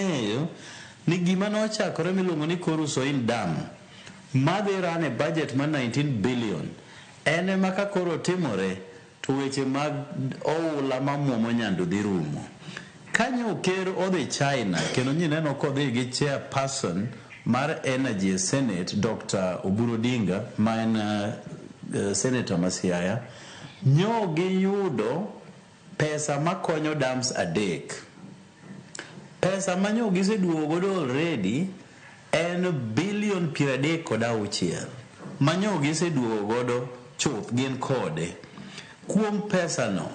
ong'eyo ni gima nochakore miluongo ni Koru Soil Dam madhi run e budget mar 19 billion en ema ka koro otimore to weche mag oula mamwomo Nyandu dhi rumo. Ka nyo ker odhi China kendo nyineno kodhi gi chairperson mar Energy e Senate Doctor Oburu Odinga ma en uh, senator ma Siaya nyo giyudo Pesa makonyo dams adek. Pesa manyo giseduogo godo already en billion piero adek kod auchiel. Manyo giseduogo godo chuth gin kode. Kuom pesa no,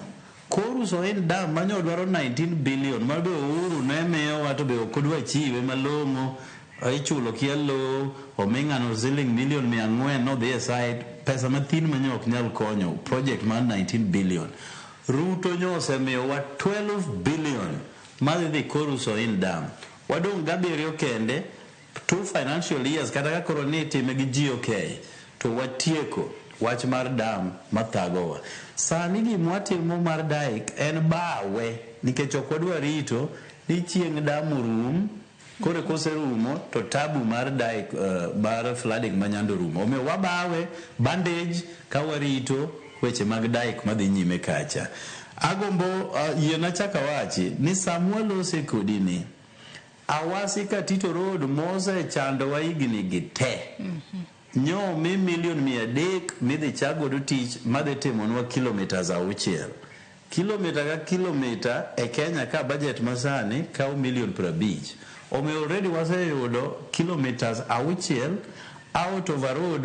koru Soin dam manyo dwaro 19 billion ma be Uhuru ne miyowa to be ok odwa chiwe malong'o Ichulo kia lowo, oming'ano siling million mia ang'wen nodhi e side, pesa mathin manyo ok nyal konyo project mar 19 billion. Ruto nyo osemiyowa 12 billion madhi dhi Koru Soin Dam. Wadong' gi abiriyo kende, two financial years kata ka koro ni itime gi GOK to watieko wach mar dam mathagowa. Sani gimwatimo mar Dyke en bawe nikech ok wadwa rito ni chieng' dam orum. Koro kose rumo to tabu mar dye mar flooding ma nyando rumo. Omiyo wabawe bandage ka warito weche mag dye ma dhi nyime kacha. Agombo yiena achak awachi ni sama walose kodi ni, Awasi Katito Road mose chandowa higni gi te. Nyo mi million mia adek midhi chak godo tich madhi timonwa kilometres auchiel. Kilometre ka kilometre e Kenya ka budget masani kawo million piero abich. Omiyo already waseyudo kilometres auchiel out of a road